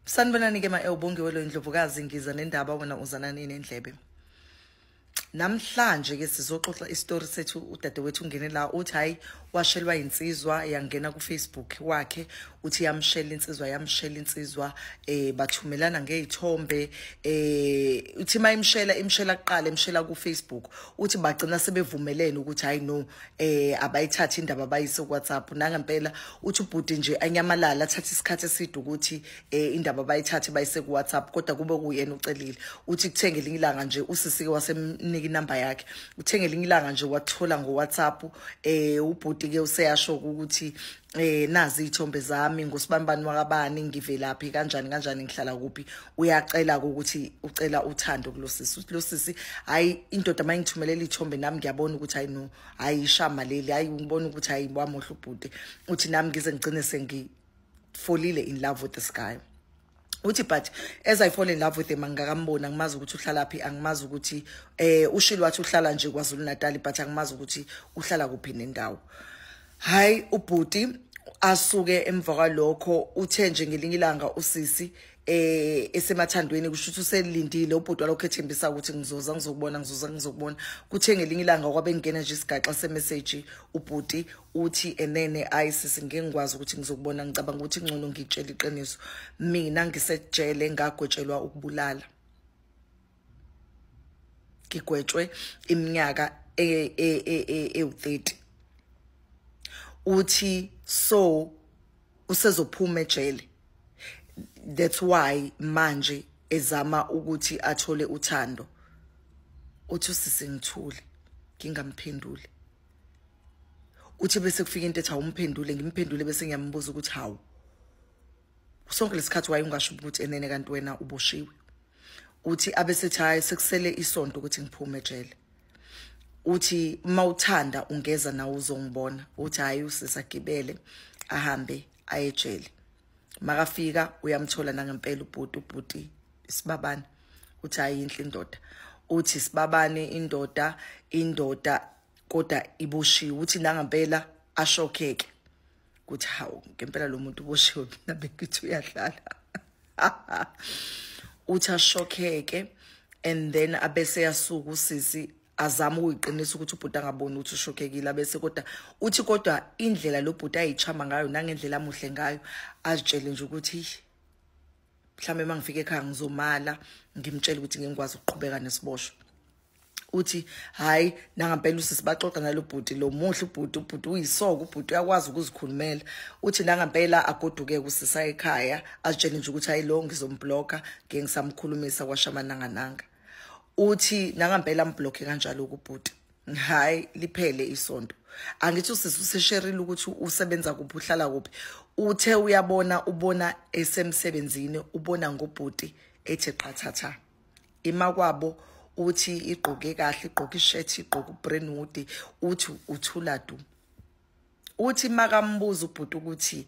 sanibonani ke ma-elbongiwe loyo ndlovukazi ngiza nendaba wena uzanani nendlebe namhlanje ke sizoxoxa isitori sethu udadewethu ungene la uthi hayi washelwa insizwa yangena kufacebook wakhe uthi yamshela insizwa yamshela insizwa eh bathumelana ngezithombe eh uthi mayimshela imshela kuqala imshela kufacebook uthi bagcina sebevumelene ukuthi hayi no eh abayithathe indaba bayise kuWhatsApp nangempela uthi ubhuti nje anyamalala athathe isikhathi eside ukuthi eh indaba bayithathe bayise kuWhatsApp kodwa kube kuyena ucelile uthi kuthenge elinye ilanga nje usisike wasemnika inamba yakhe uthenge elinye ilanga nje wathola ngoWhatsApp eh ubhuti ke useyasho ukuthi eh nazi ithombe zami ngosibanibani wakabani ngivelaphi kanjani kanjani ngihlala kuphi uyacela ukuthi ucela uthando kulosisi uthi losisi hayi indoda mayingithumelela ithombe nami ngiyabona ukuthi hayi no hayi ishama leli hayi ngibona ukuthi hayi wamohla ubhuti uthi nami ngize ngigcine sengifolile in love with this guy uthi but as i fall in love with him angikakambona ngimazi ukuthi uhlala phi angimazi ukuthi eh ushilo wathi uhlala nje kwaZulu Natal but angimazi ukuthi uhlala kuphi nendawo hayi ubhuti asuke emva kwalokho uthe nje ngelinye ilanga usisi eh esemathandweni kusho ukuthi uselindile ubhuti walokho ethembisa ukuthi ngizoza ngizokubona ngizoza ngizokubona kuthe ngelinye ilanga kwabengena nje isigaxa semessage ubhuti uthi enene ayi sisi ngeke ngikwazi ukuthi ngizokubona ngicabanga ukuthi ngcono ngitshela iqiniso mina ngisejele ngagwetshelwa ukubulala ngigwetshwe iminyaka ewu-30 e, e, uthi so usezophuma ejele that's why manje ezama ukuthi athole uthando uthi usisi ngithule ngingamphenduli uthi bese kufika into ethi awumphendule ngimphendule bese ngiyambuza ukuthi hawu sonke lesikhathi wayungasho ukuthi enene kanti wena uboshiwe uthi abesethi hayi sekusele isonto ukuthi ngiphume ejele uthi uma uthanda ungeza nawe uzongibona uthi hayi usisagibele ahambe ayejele makafika uyamthola nangempela ubhuti ubhuti isibabane uthi ayinhle indoda uthi sibabane indoda indoda kodwa iboshiwe uthi nangempela ashokheke ukuthi hawu ngempela lo muntu uboshiwe mina bengithi uyadlala uthi ashokheke and then abese yasuka usisi azama ukuyiqinisa ukuthi ubhuti angaboni ukuthi ushokekile abese kodwa uthi kodwa indlela lo bhuti ayichama ngayo nangendlela amuhle ngayo azitshele nje ukuthi mhlawumbe uma ngifika ekhaya ngizomala ngimtshele ukuthi ngingikwazi ukuqhubeka nesiboshwa uthi hayi nangampela usisi baxoxa nalo bhuti lo muhle ubhuti ubhuti uyisoko ubhuti uyakwazi ukuzikhulumela uthi nangampela agoduke kusisa ekhaya azitshele nje ukuthi hayi lo ngizombloka ngiye ngisamkhulumisa kwashamanangananga uthi nangampela amblock kanjalo ukubhuti hayi liphele isonto angithi usisi usesherile ukuthi usebenza kuphi uhlala kuphi uthe uyabona ubona esemsebenzini ubona ngobhuti ethi qathatha ima kwabo uthi igqoke kahle igqoke ishirt igqoke ubrandwood uthi uthula du uthi makambuza ubhuti ukuthi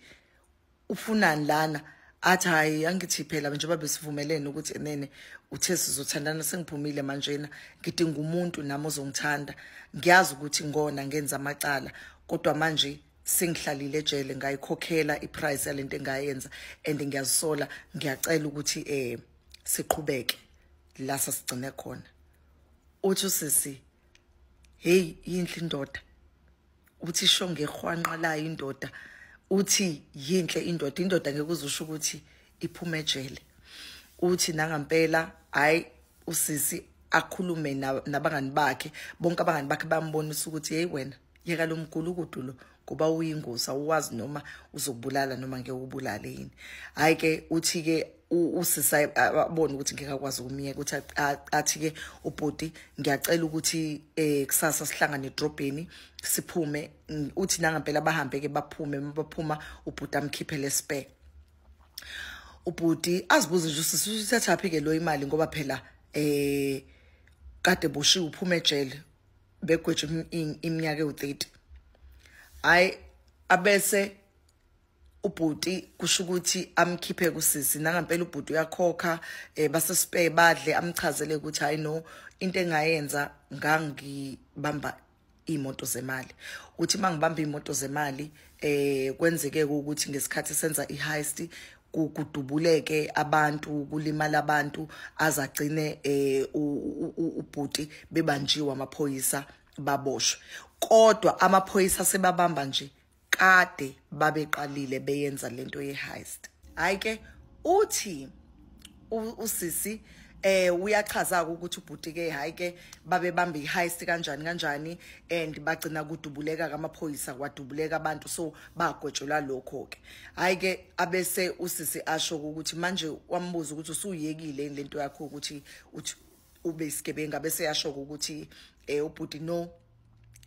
ufunani lana athi hayi angithi phela njengoba besivumelene ukuthi enene uthe sizothandana sengiphumile manjena ngidinga umuntu nami ozongithanda ngiyazi ukuthi ngona ngenza amacala kodwa manje sengihlalile ejele ngayikhokhela iprice yalento engayenza and ngiyazisola ngiyacela ukuthi eh siqhubeke la sasigcine khona uthi usisi hey yinhle indoda uthi isho ngehwanqa layo indoda uthi yinhle indoda indoda ngeke uzusho ukuthi iphuma ejele uthi nangampela hayi usisi akhulume nabangani bakhe bonke abangani bakhe bambonisa ukuthi hey wena yeka lo mgulukudu lo ngoba uyingozi awuwazi noma uzokubulala noma ngeke ubulale yini hayi ke uthi ke usisa abone ukuthi ngeke akwazi ukumyeka ukuthi athi ke ubhuti ngiyacela ukuthi eh kusasa sihlangane edrobheni siphume uthi nangampela bahambe ke baphume baphuma ubhuti amkhiphe lesibheke ubhuti azibuze nje usisi uthathaphi ke lo imali ngoba phela eh kade boshiwe uphuma ejele begweje iminyaka ewu30 hayi abese ubhuti kusho ukuthi amkhiphe kusisi nangampela ubhuti uyakhokha eh base spare badle amchazele ukuthi hayi no into engayenza ngangibamba imoto zemali uthi mangibamba imoto zemali eh kwenzeke ukuthi ngesikhathi senza iheist kudubuleke abantu kulimala abantu azagcine eh ubhuti bebanjiwe amaphoyisa baboshwe kodwa amaphoyisa sebabamba nje kade babeqalile beyenza lento ye-heist hayi ke uthi usisi eh uyachaza ukuthi ubhuti ke hayi ke babe bambe iheist kanjani kanjani and bagcina kudubuleka kamaphoyisa kwadubuleka abantu so bagwetshelwa lokho ke hayi ke abese usisi asho ukuthi manje wambuza ukuthi usuyekile lento yakho ukuthi uthi ube isigebenga bese yasho ukuthi eh ubhuti no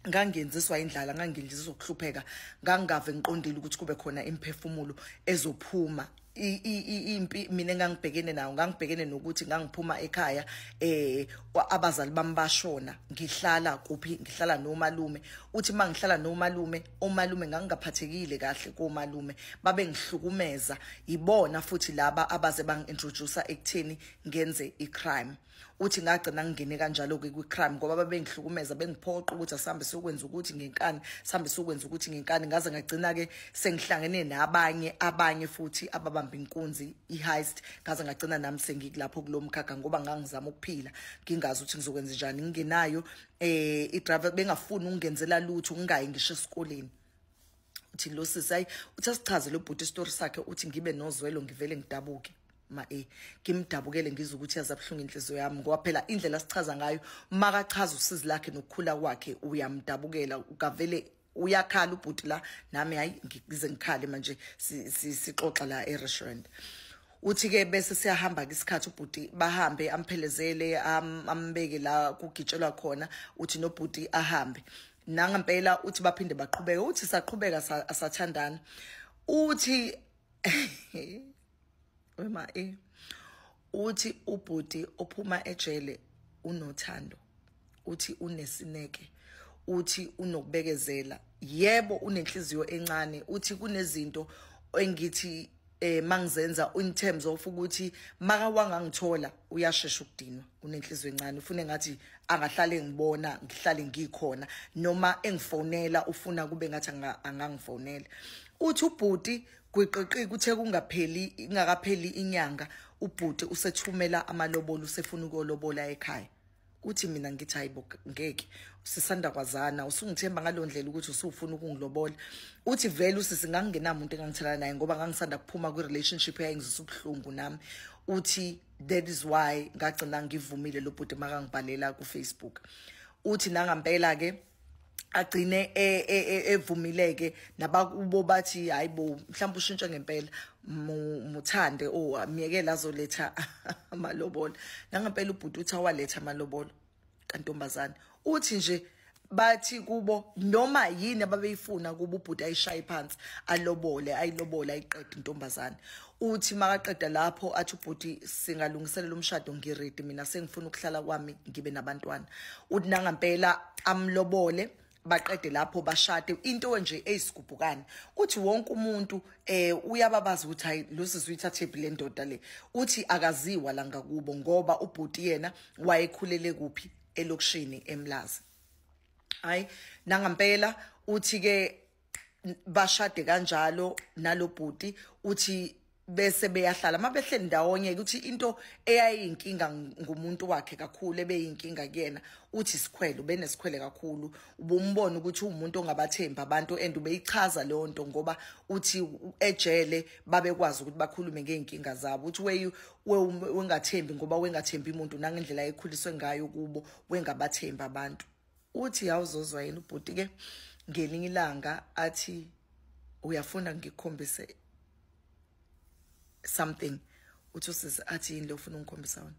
ngangenziswa indlala ngangindlizwa ukuhlupheka ngangave ngiqondile ukuthi kube khona imphefumulo ezophuma impi mina engangibhekene nayo ngangibhekene nokuthi ngangiphuma ekhaya eh abazali bami bashona ngihlala kuphi ngihlala nomalume uthi mangihlala nomalume omalume ngangingaphathekile kahle komalume babe ngihlukumeza yibona futhi laba abaze bangintroducer ekutheni ngenze icrime uthi ngagcina ngingene kanjalo-ke kwi-crime ngoba babengihlukumeza bengiphoqa ukuthi asihambe siyokwenza ukuthi ngenkani sihambe siyokwenza ukuthi ngenkani ngaze ngagcina-ke sengihlangene nabanye abanye futhi ababamba inkunzi i-heist ngaze ngagcina nami sengikulapho kulo mkhakha ngoba ngangizama ukuphila ngingazi ukuthi ngizokwenza njani ngingenayo um eh, idriver bengafuni ukungenzela lutho ngingayi ngisho esikoleni uthi lo sisi ayi uthi asichaze lo bhuti isitori sakhe uthi ngibe nozwelo ngivele ngidabuke ma e ngimdabukele ngizwe ukuthi yazabuhlungu inhliziyo yami ngoba phela indlela sichaza ngayo makachaza usizi lakhe nokukhula kwakhe uyamdabukela ukavele uyakhala ubhuti la nami hayi ngize ngikhale manje sixoxa la e-restaurant uthi ke bese siyahamba ke isikhathi ubhuti bahambe amphelezele ambeke la kugitshelwa khona uthi nobhuti ahambe nangempela uthi baphinde baqhubeke uthi saqhubeka asathandana uthi wema e uthi ubhuti ophuma ejele unothando uthi unesineke uthi unokubekezela yebo unenhliziyo encane uthi kunezinto engithi eh mangizenza in terms of ukuthi maka wangangithola uyashesha ukudinwa unenhliziyo encane ufuna ngathi angahlale ngibona ngihlale ngikhona noma engifonela ufuna kube ngathi angangifonela uthi ubhuti gwiqiqi kuthe kungapheli ingakapheli inyanga ubhuti usethumela amalobolo usefuna ukolobola ekhaya uthi mina ngithi hayibo ngeke sisanda kwazana usungithemba ngalondlela ukuthi usufuna ukungilobola uthi vele usisi ngangingenamuntu engangithelana naye ngoba ngangisanda kuphuma kwi relationship eyayingizisa ubuhlungu nami uthi that is why ngagcina ngivumile lobhuti makangibhalela ku Facebook uthi nangampela ke agcine e, e, e, evumileke nabakubo bathi hayibo mhlawumbe ushintshe ngempela muthande o oh, myekela azoletha amalobolo nangempela ubhuti uthi awaletha amalobolo kantombazane uthi nje bathi kubo noma yini ababeyifuna kuba ubhuti ayishaye phansi alobole ayilobole ayiqede intombazane uthi makaqeda lapho athi ubhuti singalungiselela umshado ngiridi mina sengifuna ukuhlala kwami ngibe nabantwana uthi nangampela amlobole baqede lapho bashade into nje eyisigubhukane uthi wonke umuntu eh uyababaza ukuthi hayi losisi uyithathephi le ndoda le uthi akaziwa la ngakubo ngoba ubhuti yena wayekhulele kuphi elokishini emlazi hayi nangampela uthi ke bashade kanjalo nalobhuti uthi bese beyahlala mabehleli ndawonye ukuthi into eyayinkinga ngumuntu wakhe kakhulu ebeyinkinga kuyena uthi sikhwele ubenesikhwele kakhulu ubumbona ukuthi umuntu ongabathembi abantu and ubeyichaza leyo nto ngoba uthi ejele babekwazi ukuthi bakhulume ngey'nkinga zabo uthi weyu wengathembi ngoba wengathembi muntu nangendlela ekhuliswe ngayo kubo wengabathembi abantu uthi yawuzozwa yini ubhuti ke ngelinye ilanga athi uyafuna ngikhombise something uthi usisi athi yini lofuna ungikhombisa wona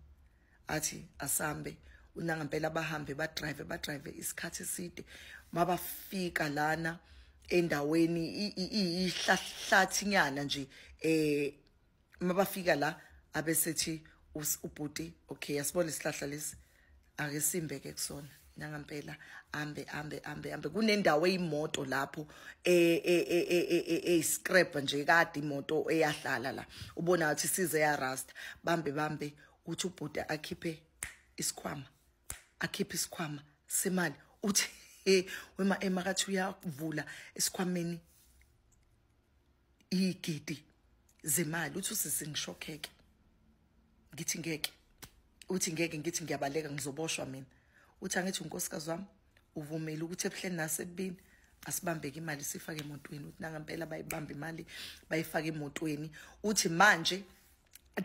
athi asambe unanga impela bahambe ba drive ba drive isikhathi eside mabafika lana endaweni ihlahlathi nyana nje eh uma bafika la abesethi ubhuti okay yasibona isihlahla lesi ake simbe ke kusona nangampela ambe ambe ambe ambe kunendawo eyimoto lapho eyiscrap e, e, e, nje kade imoto eyahlala la ubona ukuthi size ya rust bambe bambe uthi ubhuti akhiphe isikhwama akhiphe isikhwama semali uthi wema emakathi uyavula esikhwameni iyigidi zemali uthi usisi ngishokheke ngithi ngeke uthi ngeke ngithi ngiyabaleka ngizoboshwa mina uthi angithi unkosikazi wami uvumile ukuthi ebuhleni nasebini asibambeke imali sifake emotweni uthi nangampela bayibamba imali bayifake emotweni uthi manje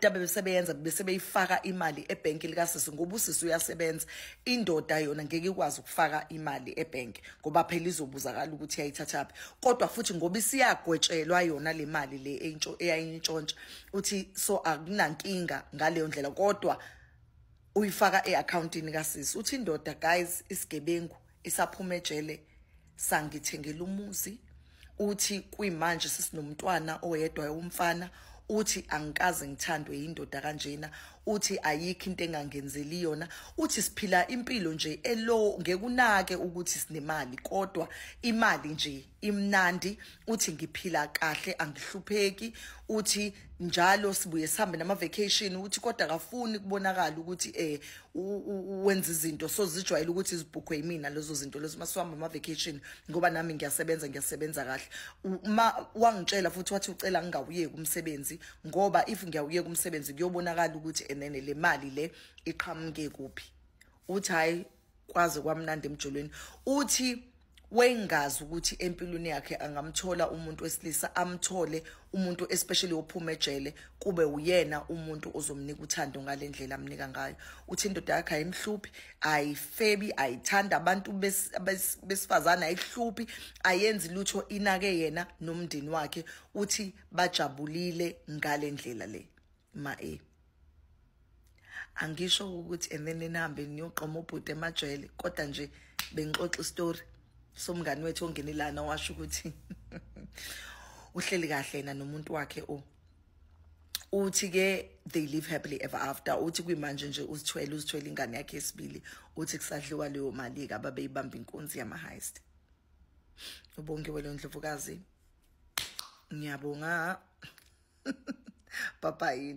Dabe besebeyenza bese beyifaka imali ebank likasisi ngoba usisi uyasebenza indoda yona ngeke ikwazi ukufaka imali ebank ngoba phela izobuzakala ukuthi yayithathaphi kodwa futhi ngoba isiyagwetshelwa yona le mali le entsho eyayintshontsha uthi so akunankinga ngaleyo ndlela kodwa uyifaka eaccountini kasisi uthi indoda guys isigebengu isaphuma ejele sangithengela umuzi uthi kuyimanje sesinomntwana oyedwa umfana uthi angikaze ngithandwe yindoda kanjena uthi ayikho into engangenzeli yona uthi siphila impilo nje elo ngekunake ukuthi sinemali kodwa imali nje imnandi uthi ngiphila kahle angihlupheki uthi njalo sibuye sihambe nama vacation uthi kodwa kafuni kubonakala ukuthi eh wenza izinto so zijwayele ukuthi izibhukhwe yimina lezo zinto lezo masiwamba ama vacation ngoba nami ngiyasebenza ngiyasebenza kahle uma wangitshela futhi wathi ucela ngingawuyeki umsebenzi ngoba if ngiyawuyeka umsebenzi kuyobonakala ukuthi enene le mali le iqhamuke kuphi uthi hayi kwaze kwamnandi emjolweni uthi wayengazi ukuthi empilweni yakhe angamthola umuntu wesilisa amthole umuntu especially ophuma ejele kube uyena umuntu ozomnika uthando ngalendlela amnika ngayo uthi indoda yakhe ayimhluphi ayifebi ayithanda abantu besifazana ayihluphi ayenzi lutho inake yena nomndeni wakhe uthi bajabulile ngalendlela le ma e angisho ukuthi and then nihambe niyoqoma ubhuti emajele kodwa nje bengixoxa istory somngani wethu ongene lana washo ukuthi uhleli kahle yena nomuntu wakhe o oh. uthi ke they live happily ever after uthi kwimanje nje uzithwele uzithwele ingane yakhe esibili uthi kusadliwa leyo mali ke ababeyibamba inkunzi yama heist ubongiwe lo ndlovukazi ngiyabonga bye bye